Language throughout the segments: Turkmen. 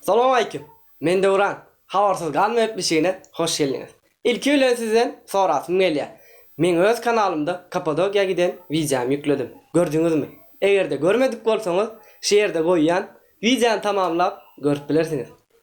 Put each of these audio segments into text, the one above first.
Salam aleýkum! Men Döwran. Habarsyz galma gepleşigine hoş geldiňiz. Ilki bilen sizden sorasym gelýär. Men öz kanalymda Kapadokiýa giden wideomy ýükledim. Gördüňizmi? Eger-de görmedik bolsaňyz, şu ýerde goýýan wideony tamamlap görüp bilersiňiz.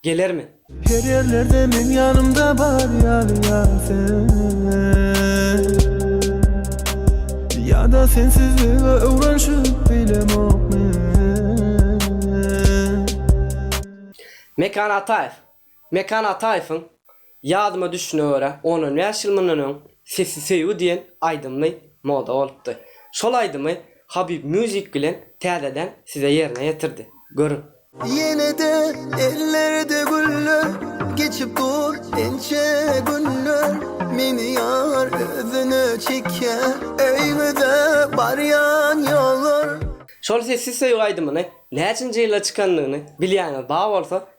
Gelermi? Her ýerlerde meň ýanymda bar ýaly ýar sen Ýa-da sensizlige öwrenşip bilemok men. Mekan Ataýew Mekan Ataýewiň Ýadyma düşşüne görä, on-on bäş ýyl mundan öň Sesli söýgi diýen aýdymly moda bolupdy. Şol aýdymy Habyp Music bilen täzeden size ýerine ýetirdi. Görüň. Ýene-de ellerde güller, Geçip dur ençe günler, Meni ýar özüne çekýär, Öýüňize barýan ýollar. Şol Sesli söýgi aýdymyny näçinji ýylda çykandygyny bilýäniz bar bolsa,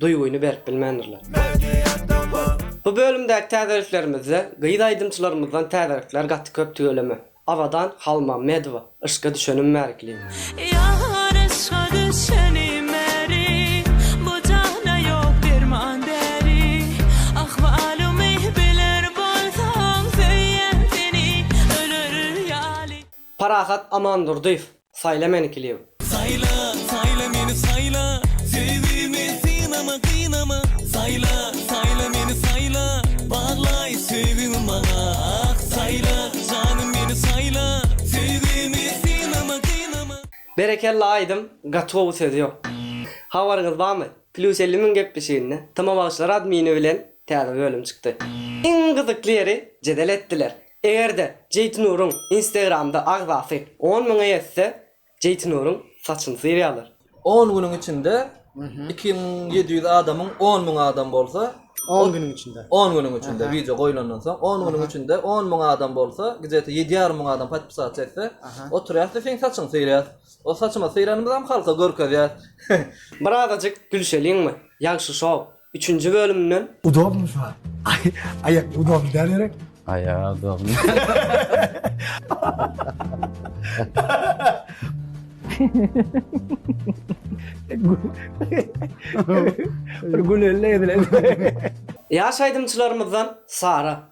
duýgyny berip bilmändirler. Bu bölümdäki täzeliklerimizde gyz aýdymçylarymyzdan täzelikler gaty köp tüweleme. Abadan Halmammedowa Yşka düşenim bäri klip. Ýar yşga düşenim bäri Bu jana ýok derman däri Ahwalymy biler bolsaň Söýýän seni öler ýaly. Parahat Amandurdyýew Saýla meni klip. Saýla, saýla meni saýla, Söýgimi synama, gynama, Saýla, saýla meni saýla, Baglaý söýgiňi maňa, ah, Saýla, janym meni saýla, Söýgimi synama, gynama. Berekella aýdym gatowy söz ýok. Habaryňyz bamy Plyus elli müň gepleşiginde Tma bagşylar admini bilen täze bölüm çykdy. Iň gyzykly ýeri jedel etdiler. Eger-de Jeýtinuryň Instagramda agzasy on müňe ýetse, Jeýtinuryň saçyny syrýarlar. On günüň içinde iki müň ýedi ýüz adamyň on müň adam bolsa, On günüň içinde. On günüň içinde, wideo goýlandan soň on günüň içinde on müň adam bolsa, gije-ete ýedi ýarym müň adam podpisatça etse, oturýas-da seň saçyňy syrýas. O saçymyzy syranymyzam halka görkezýäs. Bir azajyk gülşeliňmi, Ýagşy Show? Üçünji bölümden. Udobny saz. Aýak udobny däl gerek. Aýak udobny. Bir güleli edilen. Ýaş aýdymçylarymyzdan Sara.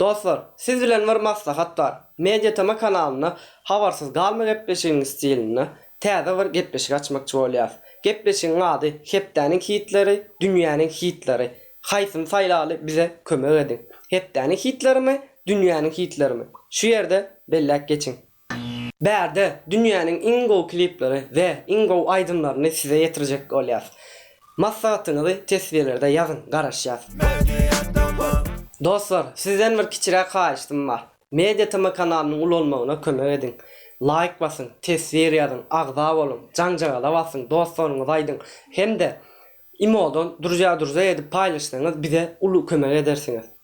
Dostlar, siz bilen bir maslahat bar. Media tema kanalynda Habarsyz galma gepleşigiň stilinde täze bir gepleşik açmakçy bolýas. Gepleşigiň ady Hepdäniň hitleri, dünýäniň hitleri. Haýsyny saýlaly bize kömek ediň. Hepdäniň hitlerimi, dünýäniň hitlerimi? Şu ýerde belläp geçiň. Bärde dünýäniň iň gowy klipleri we iň gowy aýdymlaryny size ýetirjek bolýas. Maslahatyňyzy teswirlerde ýazyň, garaşýas. Dostlar, sizden bir kiçiräk haýyştym bar. Media TM kanalynyň ulalmagyna kömek ediň. Laýk basyň, teswir ýazyň, agza boluň, jaňjagala basyň, dostlaryňyza aýdyň hem-de imodan durja-durja edip paýlaşsaňyz bize uly kömek edersiňiz.